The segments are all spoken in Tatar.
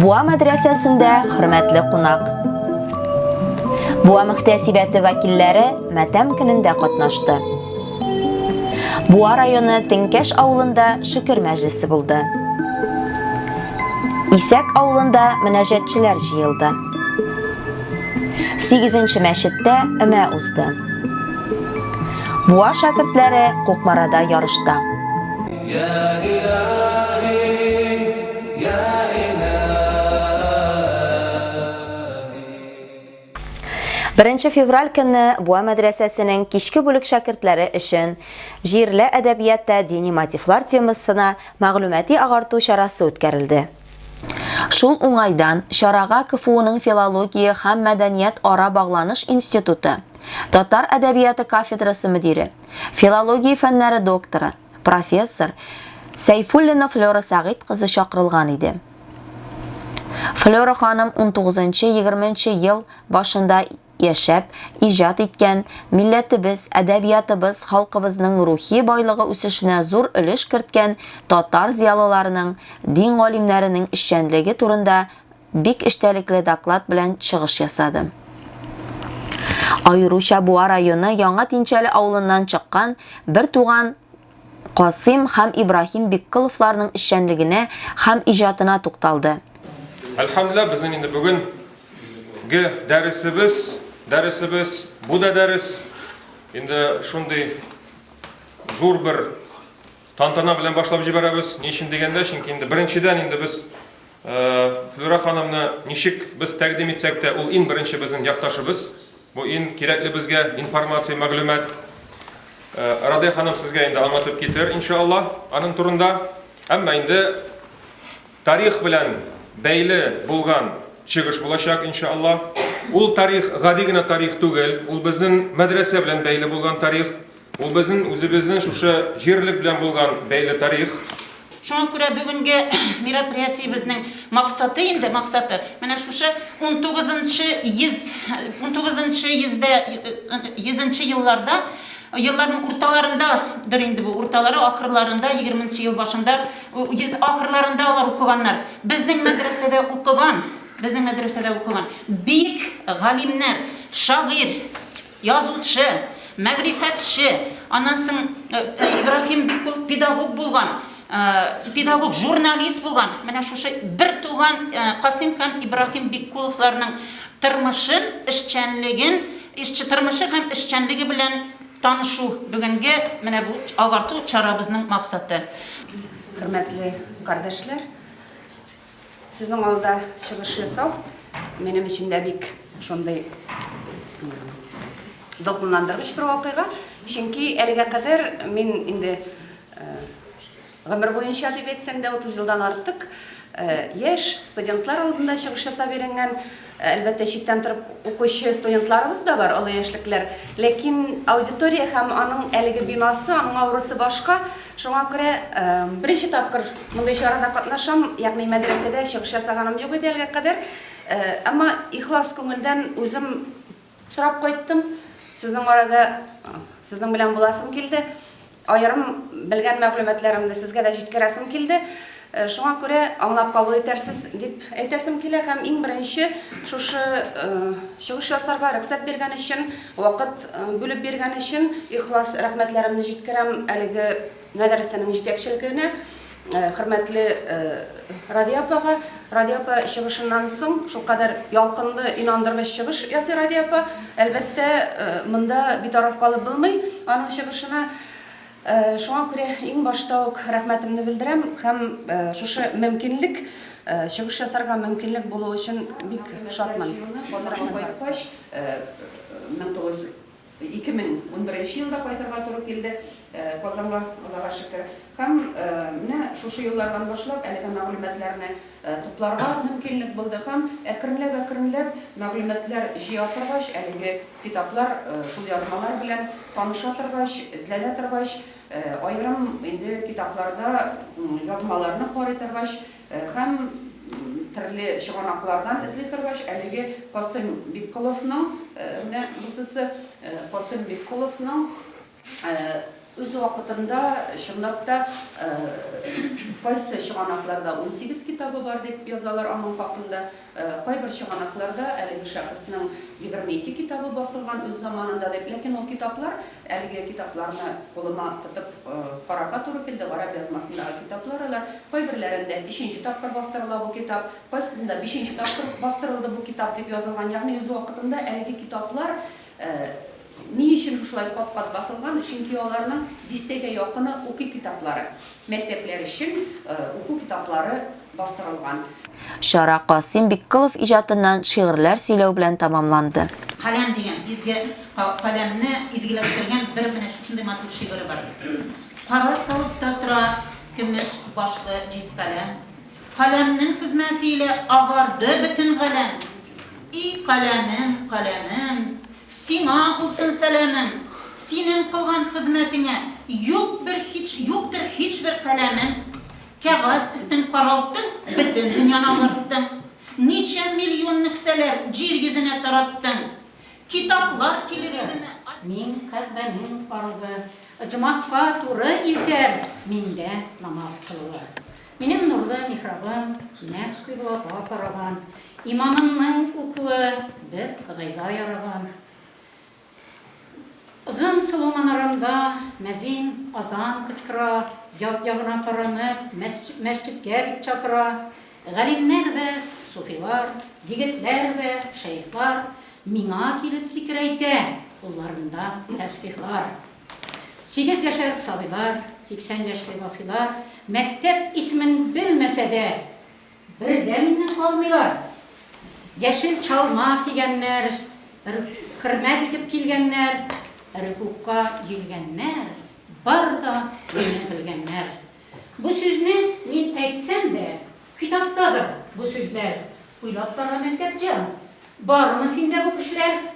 Буа мәдрәсәсендә хөрмәтле кунак. Буа мөхтәсибәте вәкилләре матәм көнендә катнашты. Буа районы Теңкәш авылында шөкер мәҗлесе булды. Исәк авылында мөнәҗәтчеләр җыелды. 8 мәчеттә өмә узды. Буа шәкертләре Кукмарада ярышта. Беренче февраль көнне Буа мәдрәсәсенең кичке бүлек шәкертләре өчен Җирле әдәбиятта дини мотивлар темасына мәгълүмати агарту чарасы үткәрелде. Шул уңайдан чарага КФУның филология һәм мәдәният ара багланыш институты татар әдәбияты кафедрасы мөдире, филология фәннәре докторы, профессор Сәйфуллина Флера Сәгыйть кызы чакырылган иде. Флера ханым 19-20 ел башында яшәп, иҗат иткән, милләтебез, әдәбиятыбыз, халкыбызның рухи байлыгы үсешенә зур өлеш керткән татар зиялыларының, дин галимнәренең эшчәнлеге турында бик эчтәлекле доклад белән чыгыш ясады. Аеруча Буа районы Яңа Тинчәле авылыннан чыккан бер туган Касыйм һәм Ибраһим Бикколовларның эшчәнлегенә һәм иҗатына тукталды. Әлхәмдүлилләһ, безнең инде бүгенге дәресебез, дәресебез, бу да дәрес, инде шундый зур бер тантана белән башлап җибәрәбез. Ни өчен дигәндә, чөнки инде беренчедән инде без Флюра ханымны ничек без тәкъдим итсәк тә, ул иң беренче безнең якташыбыз. Бу иң кирәкле безгә информация, мәгълүмат. Радия ханым сезгә инде аңлатып китер, иншалла, аның турында. Әмма инде тарих белән бәйле булган чыгыш булачак, иншалла. Ул тарих гади генә тарих түгел, ул безнең мәдрәсә белән бәйле булган тарих. Ул безнең үзебезнең шушы җирлек белән булган бәйле тарих. Шуңа күрә бүгенге мероприятиебезнең максаты инде, максаты, менә шушы унтугызынчы йөз, унтугызынчы йөздә, йөзенче елларда, елларның урталарындадыр инде бу, урталары, ахырларында, егерменче ел башында, йөз ахырларында алар укыганнар. Безнең мәдрәсәдә укыган, безнең мәдрәсәдә укыган бик галимнәр, шагыйрь, Язучы, мәгърифәтче, аннан соң Ибраһим бик ул педагог булган, педагог, журналист булган. Менә шушы бертуган Касыйм һәм Ибраһим Биккуловларның тормышын, эшчәнлеген, эшче тормышы һәм эшчәнлеге белән танышу бүгенге менә бу агарту чарабызның максаты. Хөрмәтле кардәшләр, Сезнең алда чыгыш ясау минем өчен дә бик шундый дулкынландыргыч бер вакыйга. Чөнки әлегә кадәр мин инде гомер буенча дип әйтсәм дә 30 елдан артык яшь студентлар алдында чыгыш ясап өйрәнгән Әлбәттә, читтән торып укучы студентларыбыз да бар, олы яшьлеклеләр. Ләкин аудитория һәм аның әлеге бинасы, аның аурасы башка. Шуңа күрә беренче тапкыр мондый чарада катнашам, ягъни мәдрәсәдә чыгыш ясаганым юк иде әлегә кадәр. Әмма ихлас күңелдән үзем Сорап кайттым. Сезнең арада сезнең белән буласым килде. Аерым белгән мәгълүматларымны сезгә дә җиткерәсем килде. Шуңа күрә аңлап кабул итәрсез дип әйтәсем килә һәм иң беренче шушы чыгыш ясарга рөхсәт биргән өчен, вакыт бүлеп биргән өчен ихлас рәхмәтләремне җиткерәм әлеге Мәдрәсәнең җитәкчелегенә, хөрмәтле Радия апага. Радия апа чыгышыннан соң шулкадәр ялкынлы, инандыргыч чыгыш ясый Радия апа. Әлбәттә, монда битараф калып булмый аның чыгышына. Шуңа күрә иң башта ук рәхмәтемне белдерәм һәм шушы мөмкинлек, чыгыш ясарга мөмкинлек булуы өчен бик шатмын. Базарга кайткач, 1900. Ике мең унберенче елда кайтырга туры килде Казанга, Аллага шөкер. Һәм менә шушы еллардан башлап әлеге мәгълүматларны тупларга мөмкинлек булды һәм әкренләп-әкренләп мәгълүматлар җыя торгач, әлеге китаплар, кулъязмалар белән таныша торгач, эзләнә торгач, аерым инде китапларда язмаларны карый торгач, Һәм трле чыганаклардан эзли торгач, әлеге Касыйм Бикколовның, менә бусысы, Касыйм Бикколовның үз вакытында, чынлап та, кайсы чыганакларда унсигез китабы бар дип язалар аның хакында. Кайбер чыганакларда әлеге шәхеснең егерме ике китабы басылган үз заманында дип, ләкин ул китаплар, әлеге китапларны кулыма тотып карарга туры килде, гарәп язмасындагы китаплар алар, кайберләрендә өченче тапкыр бастырыла бу китап, кайсында бишенче тапкыр бастырылды бу китап дип язылган, ягъни үз вакытында әлеге китаплар Ни өчен шушылай кат-кат басылган? Чөнки аларның дистәгә якыны уку китаплары, мәктәпләр өчен уку китаплары бастырылган. Чара Касыйм Бикколов иҗатыннан шигырьләр сөйләү белән тәмамланды. Каләм дигән изге каләмне изгеләштергән бер менә шушындый матур шигыре бар. Кара савытта тора көмеш башлы җиз каләм. Каләмнең хезмәте илә агарды бөтен галәм. И каләмем, каләмем, сиңа булсын сәламем, Синең кылган хезмәтеңә юк бер һич, юктыр һичбер каләмем. Кәгазь өстен каралттың, бөтен дөньяны агардтың, Ничә миллионны ксәләр җир йөзенә тараттың. Китаплар килер идеме, ай. Мин Кәгъбәнең аргы, оҗмахка туры илтәр миндә намаз кылуы. Минем Нурза михрабын нәкъ кыйблага караган, имамымның укуы бер Ходайга яраган. Озын сылу манарамда мәзин азан кычкыра, як ягына каранып, мәсҗедкә дип чакыра. Галимнәр вә суфилар, егетләр вә шәехлар миңа килеп зикер әйтә, кулларында тәсбихлар. Сигез яшәр сабыйлар, 80 яшьле басыйлар, мәктәп исемен белмәсә дә, бер дә миннән калмыйлар. Яшел чалма кигәннәр, р хөрмәт итеп килгәннәр, рөкүгъка йөггәннәр, бар да мине белгәннәр. Бу сүзне мин әйтсәм дә, китаптадыр бу сүзләр, уйлап карла, Мәктәпҗан, бармы синдә бу көчләр?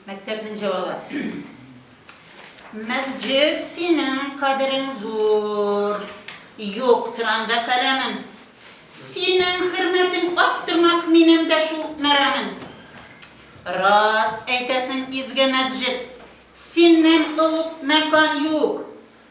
Мәктәпнең җавабы. Мәсҗид синең кадерең зур. Юк, тиранда каләмен. Синең хөрмәтең аттырмак минем дә шул мәрамын. Рас әйтәсең, изге мәсҗид. Синнән олуг мәкан юк.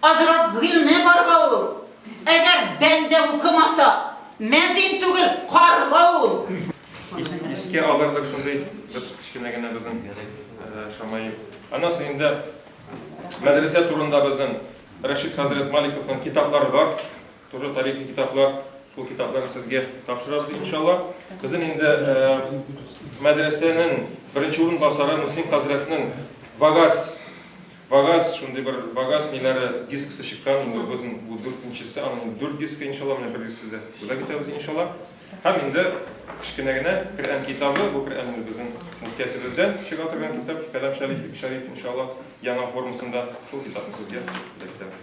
Азрагыйльне барга ул. Әгәр бәндә укымаса, мәзин түгел, карга ул. Искә алырлык шундый бер кечкенә генә безнең Шамаил. Аннан соң инде мәдрәсә турында безнең Рәшит хәзрәт Маликовның китаплары бар. Тоже тарихи китаплар. Шул китапларны сезгә тапшырабыз, иншалла. Безнең инде мәдрәсәнең беренче урынбасары Муслим хәзрәтнең Вагаз Вагаз, шундый бер вагаз ниләре дисксы чыккан, инде безнең бу дүртенчесе, аның дүрт диске иншалла, менә бер дисксы да бүләк итәбез иншалла. Һәм инде кечкенә генә Коръән китабы, бу Коръән инде безнең мөфтиятебездән чыга торган китап, Кәлам шәриф, шәриф иншалла, яңа формасында шул китапны сезгә бүләк итәбез.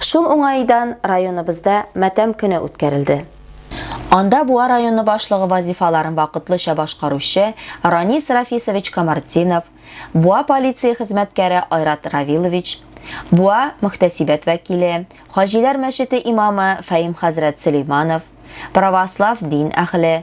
Шул уңаидан районыбызда Матәм көне үткәрелде. Анда Буа районы башлыгы вазифаларын вакытлыча башкаручы Ранис Рафисович Камартдинов, Буа полиция хезмәткәре Айрат Равилович, Буа мөхтәсибәт вәкиле, Хаҗиләр мәчете имамы Фәим хәзрәт Сөләйманов, православ дин әһле,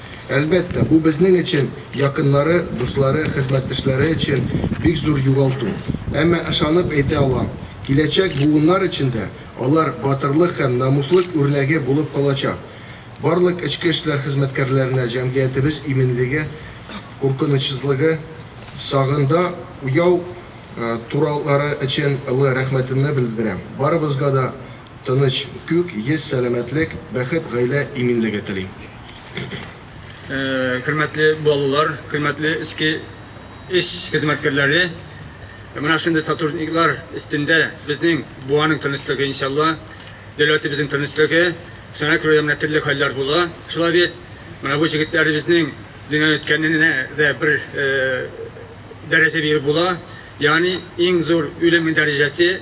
Әлбәттә, бу безнең өчен, якыннары, дуслары, хезмәттәшләре өчен бик зур югалту. Әмма ышанып әйтә алам, киләчәк буыннар өчен дә алар батырлык һәм намуслык үрнәге булып калачак. Барлык эчке эшләр хезмәткәрләренә җәмгыятебез иминлеге, куркынычсызлыгы, сагында уяу торулары өчен олы рәхмәтемне белдерәм. Барыбызга да Тыныч, күк йөз, сәламәтлек, бәхет, гаилә иминлеге телим. Хөрмәтле балалар, хөрмәтле эчке эш хезмәткәрләре! Менә шундый сотрудниклар өстендә безнең Буаның тынычлыгы, иншалла, дәүләтебезнең тынычлыгы. Сәнәк районында менә төрле хәлләр була, шулай бит? Менә бу җегетләребезнең дөньядан үткәненә дә бер дәрәҗә биреп була. Ягъни иң зур үлем дәрәҗәсе,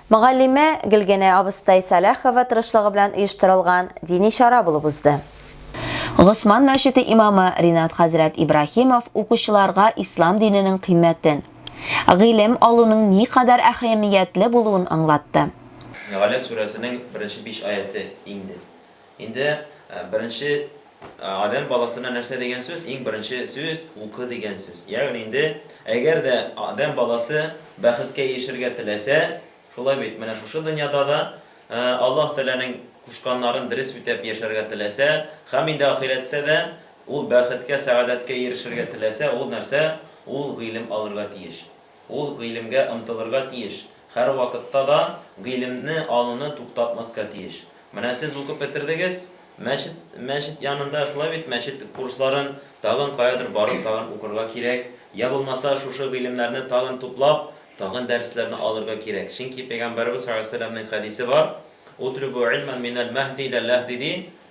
Мөгаллимә Гөлгенә абыстай Сәлахова тырышлыгы белән оештырылган дини чара булып узды. Госман мәчете имамы Ринат хәзрәт Ибраһимов укучыларга ислам диненең кыйммәтен, гыйлем алуның никадәр әһәмиятле булуын аңлатты. Галәм сүрәсенең беренче биш аяте инде. Инде беренче Адәм баласына нәрсә дигән сүз? Иң беренче сүз, укы дигән сүз. Ягъни инде, әгәр дә Адәм баласы бәхеткә ирешергә теләсә, шулай бит, менә шушы дөньяда да Аллаһ Тәгаләнең кушканнарын дөрес үтәп яшәргә теләсә, һәм инде ахирәттә дә ул бәхеткә, сәгадәткә ирешергә теләсә, ул нәрсә? Ул гыйлем алырга тиеш. Ул гыйлемгә омтылырга тиеш, һәрвакытта да гыйлемне алуны туктатмаска тиеш. Менә сез укып бетердегез, мәчет, мәчет янында, шулай бит, мәчет курсларын тагын каядыр барып тагын укырга кирәк, йә булмаса шушы гыйлемнәрне тагын туплап, тагын дәресләрне алырга кирәк. Чөнки Пәйгамбәребез салләллаһу галәйһи ва сәлләмнең хәдисе бар, Утлүбү илмән минәл мәһди илә ләһди, ди,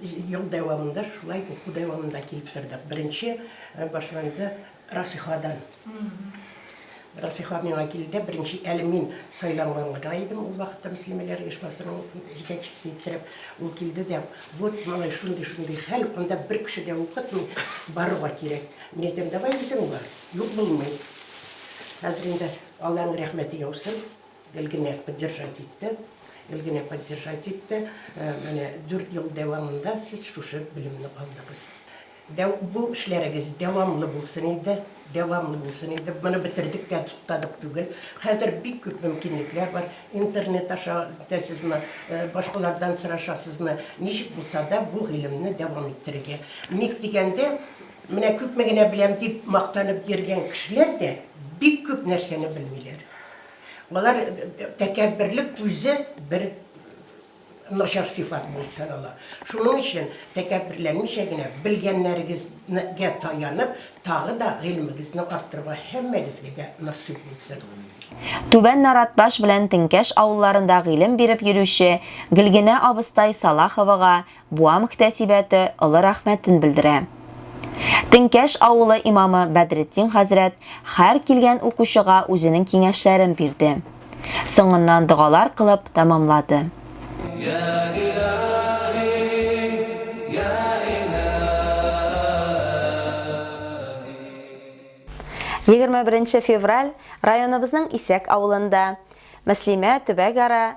Ел дәвамында шулай уку дәвамында килеп тордык. Беренче башланды Расихадан. Расиха миңа килде, беренче әле мин сайланган гына идем ул вакытта мөслимәләр оешмасының җитәкчесе иттереп. Ул килде дә, вот, малай, шундый, шундый хәл, анда бер кеше дә укытмый, барырга кирәк. Мин әйтәм, давай үзең бар, юк булмый. Хәзер инде Алланың рәхмәте яусын. Гел генә поддержать итте, гел генә поддержать итте. Менә дүрт ел дәвамында сез шушы белемне алдыгыз. Дәү, бу эшләрегез дәвамлы булсын иде, дәвамлы булсын иде. Моны бетердек тә туктадык түгел. Хәзер бик күп мөмкинлекләр бар. Интернет аша үтәсезме, башкалардан сорашасызмы, ничек булса да бу гыйлемне дәвам иттерергә. Ник дигәндә, менә күпме генә беләм дип мактанып йөргән кешеләр дә бик күп нәрсәне белмиләр. Алар тәкәбберлек үзе бер начар сыйфат булып санала. Шуның өчен тәкәбберләнмичә генә белгәннәрегезгә таянып, тагы да гыйлемегезне арттырырга һәммәгезгә дә насыйп булсын. Түбән Наратбаш белән Теңкәш авылларында гыйлем биреп йөрүче Гөлгенә абыстай Салаховага Буа мөхтәсибәте олы рәхмәтен белдерә. Теңкәш авылы имамы Бәдретдин хәзрәт һәр килгән укучыга үзенең киңәшләрен бирде. Соңыннан догалар кылып тәмамлады. Егерме беренче февраль районыбызның Исәк авылында Мөслимә төбәгара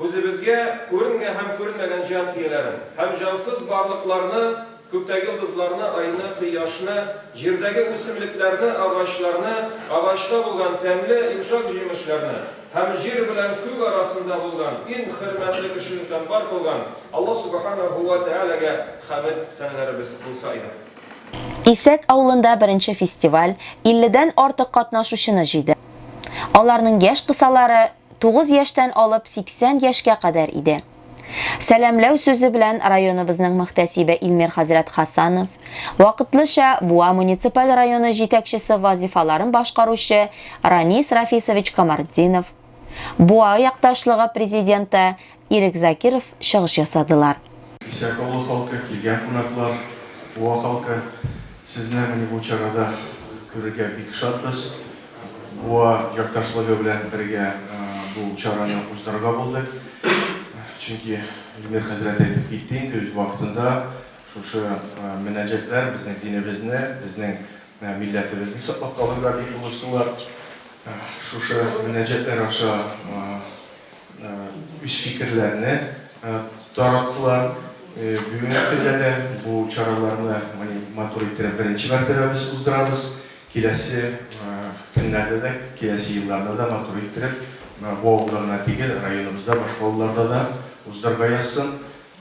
Күзебезгә күренмә һәм күренмәгән җан ияләрен, һәм җансыз барлыкларны, күктәге йолдызларны, айны, кояшны, җирдәге үсемлекләрне, агачларны, агачта булган тәмле, йомшак җимешләрне, һәм җир белән күк арасында булган иң хөрмәтле кешене тәм бар кылган Аллаһ Сүбхәнәһү вә Тәгаләгә хәмед сәнәләребез булса иде. Исәк авылында беренче фестиваль илледән артык катнашучыны җыйды. Аларның яшь кысалары, Тугыз яшьтән алып 80 яшькә кадәр иде. Сәламләү сүзе белән районыбызның мөхтәсибе Илмир хәзрәт Хасанов, вакытлыча Буа муниципаль районы җитәкчесе вазифаларын башкаручы Ранис Рафисович Камартдинов, Буа якташлыгы президенты Ирек Закиров чыгыш ясадылар. Исәк авылы халкы, килгән кунаклар, Буа халкы, сезне менә бу чарада күрергә бик шатбыз. Буа якташлыгы белән бергә бу чараны уздырырга булдык. Чөнки Илмир хәзрәт әйтеп китте инде үз вакытында, шушы мөнәҗәтләр безнең динебезне, безнең милләтебезне саклап калырга дип булыштылар. Шушы мөнәҗәтләр аша. үз фикерләрне тараттылар. Бүген иртәгә дә бу чараларны матур иттереп беренче мәртәбә без уздырабыз. Киләсе көннәрдә дә, киләсе елларда да матур иттереп, бу авылда гына түгел, районыбызда, башка авылларда да уздырырга язсын.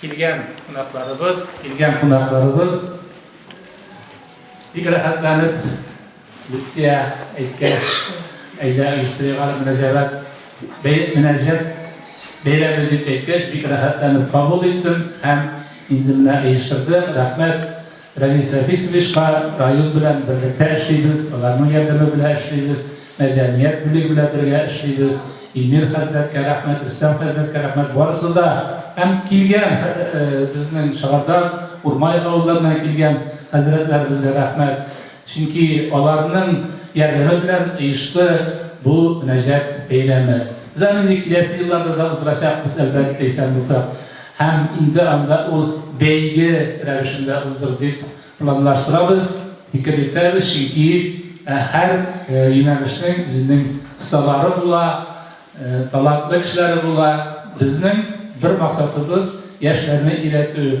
Килгән кунакларыбыз, килгән кунакларыбыз бик рәхәтләнеп Люция әйткәч, әйдә оештырыйга мөнәсәбәт мөнәсәбәт бәйрәме дип әйткәч, бик рәхәтләнеп кабул иттем һәм инде менә оештырдым. Рәхмәт. Рәмис Рәфисовичка район белән берлектә эшлибез, аларның ярдәме белән эшлибез, мәдәният бүлеге белән бергә эшлибез, Эмир хәзрәткә рәхмәт, Рөстәм хәзрәткә рәхмәт, барысы да һәм килгән безнең Шыгардан, Урмай авылларыннан килгән хәзрәтләребезгә рәхмәт, чөнки аларның ярдәме белән оешты бу мөнәҗәт бәйрәме. Без аны инде киләсе елларда да уздырачакбыз, әлбәттә, исән булсак. Һәм инде анда ул бәйге рәвешендә уздыр дип планлаштырабыз, фикер йөртәбез, чөнки һәр юнәлешнең үзенең осталары була, талантлы кешеләре була. Безнең бер максатыбыз, яшьләрне өйрәтү.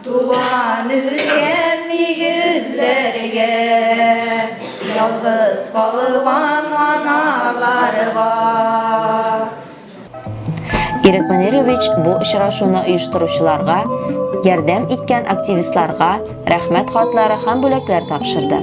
Туган өлкәм нигезләргә, ялгыз калган аналарга. Ирек Манирович бу очрашуны оештыручыларга, ярдәм иткән активистларга рәхмәт хатлары һәм бүләкләр тапшырды.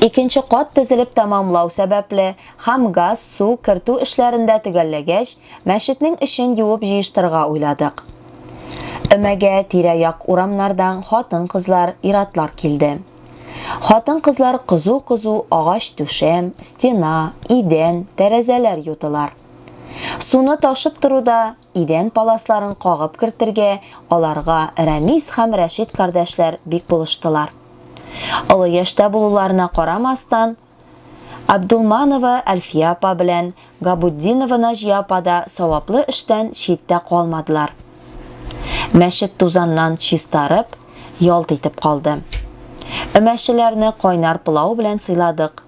Икенче кат тезелеп тәмамлау сәбәпле һәм газ, су, кертү эшләрен дә төгәлләгәч, мәчетнең эчен юып җыештырырга уйладык. Өмәгә тирә-як урамнардан хатын-кызлар, ир-атлар килде. Хатын-кызлар кызу-кызу агач түшәм, стена, идән, тәрәзәләр юдылар. Суны ташып торуда идән паласларын кагып кертергә аларга Рәмис һәм Рәшит кардәшләр бик булыштылар. Олы яшьтә булуларына карамастан, Абдулманова Әлфия апа белән Габутдинова Наҗия апа да саваплы эштән читтә калмадылар. Мәчет тузаннан чистарып, ялт итеп калды. Өмәчеләрне кайнар пылау белән сыйладык.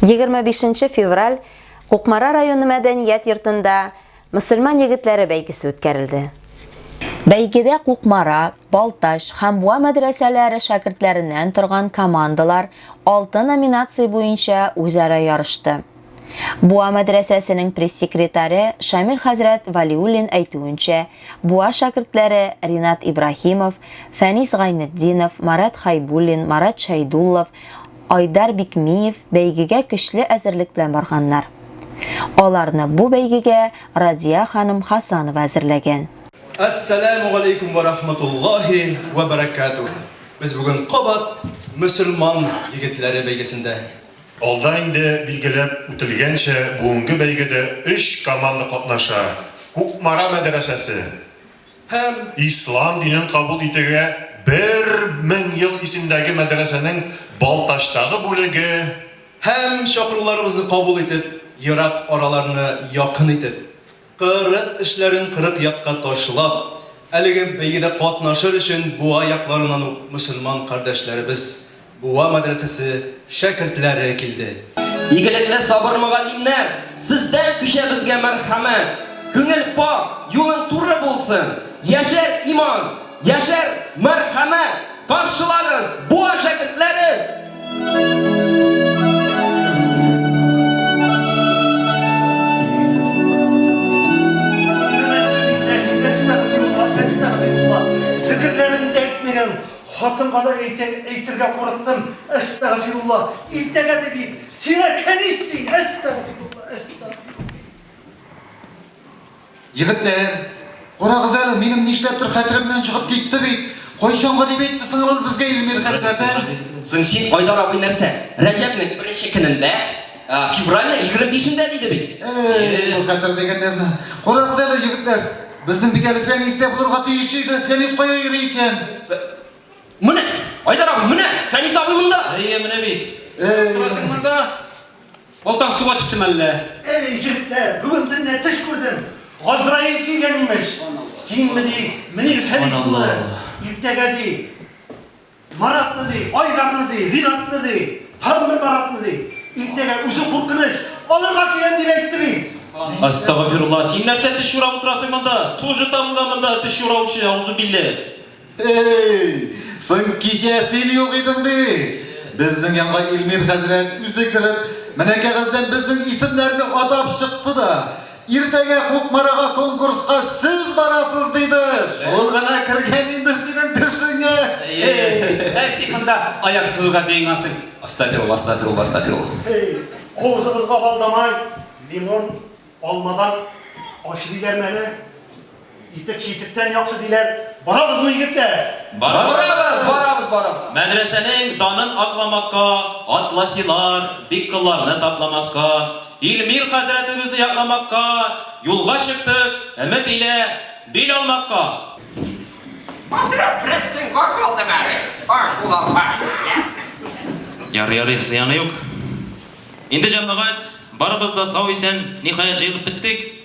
25 нче февраль Кукмара районы мәдәният йортында Мөселман егетләре бәйгесе үткәрелде. Бәйгедә Кукмара, Балтач һәм Буа мәдрәсәләре шәкертләреннән торган командалар алты номинация буенча үзара ярышты. Буа мәдрәсәсенең пресс-секретаре Шамил хәзрәт Валиуллин әйтүенчә, Буа шәкертләре Ринат Ибраһимов, Фәнис Гайнетдинов, Марат Хайбуллин, Марат Шәйдуллов, Айдар Бикмиев бәйгегә көчле әзерлек белән барганнар. Аларны бу бәйгегә Радия ханым Хасанова әзерләгән. Әссәләмү галәйкүм вә рахматуллаһи вә бәрәкәтүһ! Без бүген кабат Мөселман егетләре бәйгесендә. Алда инде билгеләп үтелгәнчә, бүгенге бәйгедә өч команда катнаша, Кукмара мәдрәсәсе, Һәм ислам динен кабул итүгә бер мең ел исемдәге мәдрәсәнең Балтачтагы бүлеге, Һәм чакыруларыбызны кабул итеп, ерак араларны якын итеп, кырык эшләрен кырык якка ташлап, әлеге бәйгедә катнашыр өчен буа якларыннан ук мөселман кардәшләребез, Буа мәдрәсәсе шәкертләре килде. Игелекле сабыр мөгаллимнәр, сездән күчәбезгә мәрхәмәт, күңел пакь, юлың туры булсын, яшәр иман, яшәр мәрхәмәт, каршылагыз, Буа шәкертләре! Хатынга да әйтә, әйтергә курыктым, әстәгъфирулла, иртәгә дип ит, сиңа кәнис дин, әстәгъфирулла, әстәгъфирулла. Егетләр, карагыз әле, минем нишләптер хәтеремнән чыгып китте бит. Кайчанга дип әйтте соң ул безгә Илмир хәзрәте? Соң син, Айдар абый, нәрсә, Рәҗәпнең беренче көнендә? Февральның егерме бишендә диде бит. Эй, бу хәтер дигәннәрне. Карагыз әле, егетләр, безнең бит әле Фәнистә булырга тиеш иде. Фәнис кая йөри икән? Менә, Айдар абый, менә, Фәнис абый монда. Әйе, менә бит. Торасың монда. Балтаң суга төштеме әллә? Эй, егетләр, бүген төнлә төш күрдем. Газраил килгән имеш. Синме ди, менә Фәнис улы. Иртәгә ди, Маратны ди, Айдарны ди, Ринатны ди, һәрбер Маратны ди. Иртәгә үзе куркыныч, алырга киләм дип әйтте бит. Астагфирулла, син нәрсә теш юрап утырасың монда? Тоже табылган монда теш юраучы, аузубилле. Эй, соң кичә син юк идең бит. Безнең янга Илмир хәзрәт үзе кереп, менә кәгазьдән безнең исемнәрне атап чыкты да. Иртәгә Кукмарага конкурска сез барасыз диде. Шул гына кергән инде синең төшеңә. Әй, син монда аяк сузуга җыенгансың. Астафирулла, астафирулла, астафирулла. Әй, авызыгызга балдамай, лимон, алмадан аш диләрме әле? Итек читектән яхшы диләр. Барабызмы, егетләр? Барабыз, барабыз, барабыз. Мәдрәсәнең данын акламакка, атласилар, бик кылларны тапламаска, Илмир хәзрәтебезне якламакка, юлга чыктык, өмет илә бил алмакка. Хәзрәт, бераз тынга калдым әле. Аш була алмак икән. Ярый, ярый, зыяны юк. Инде, җәмәгать, барыбыз да сау-исән, ниһаять, җыелып беттек.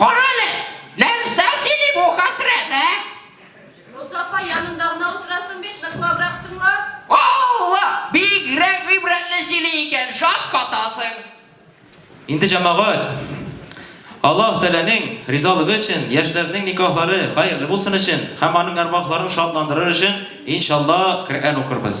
Карале, нәрсә сөйли бу хәсрәт, ә? Роза апа, янында гына утырасың бит, ныклабрак тыңла. Алла, бигрәк гыйбрәтле сөйли икән, шаккатасың. Инде җәмәгать, Аллаһ Тәгаләнең ризалыгы өчен, яшьләрнең никахлары хәерле булсын өчен һәм аның әрвахларын шатландырыр өчен, иншалла, Коръән укырбыз.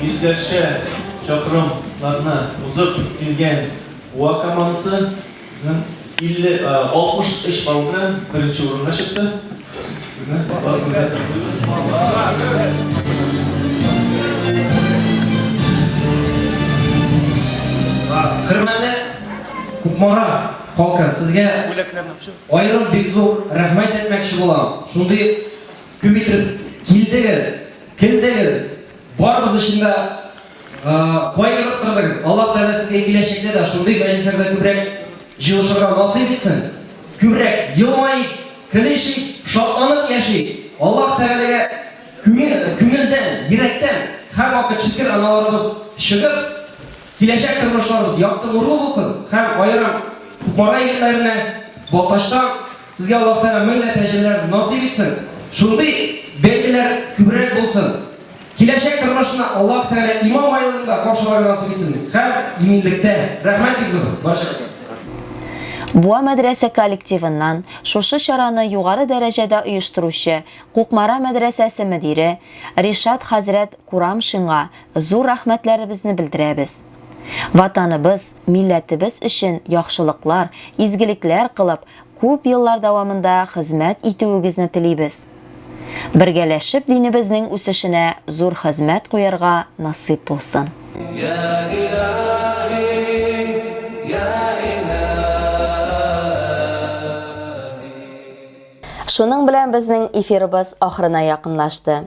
Йөзләрчә чакрымнарны узып килгән Буа командасы 63 балл белән беренче урынга чыкты. Сезне Хөрмәтле Кукмара халкы, сезгә аерым бик зур рәхмәт әйтмәкче булам. Шундый күп итеп килдегез. Кем дегез? Барыбыз өчен дә кайгырып тордыгыз. Аллаһ Тәгалә сезгә киләчәктә дә шундый мәҗлесләрдә күбрәк җыелышырга насыйп итсен. Күбрәк елмаеп, көлешик, шатланып яшик. Аллаһ Тәгаләгә күңелдән, йөрәктән һәрвакыт шөкер аналарыбыз чыгып, Киләчәк тормышларыбыз якты нурлы булсын һәм аерым Кукмара егетләренә Балтачтан сезгә Аллаһ Тәгалә мең дә тәҗриләр насыйп итсен, шундый бәйгеләр күбрәк булсын, киләчәк тормышны Аллаһ Тәгалә иман байлыгында каршыларга насыйп итсен һәм иминлектә. Рәхмәт бик зур барчагызга. Буа мәдрәсә коллективыннан шушы чараны югары дәрәҗәдә оештыручы Кукмара мәдрәсәсе мөдире Ришат хәзрәт Курамшинга зур рәхмәтләребезне белдерәбез. Ватаныбыз, милләтебез өчен яхшылыклар, изгелекләр кылып, күп еллар дәвамында хезмәт итүегезне телибез. Бергәләшеп динебезнең үсешенә зур хезмәт куярга насыйп булсын. Йә Илаһи, йә Илаһи. Шуның белән безнең эфирыбыз ахырына якынлашты.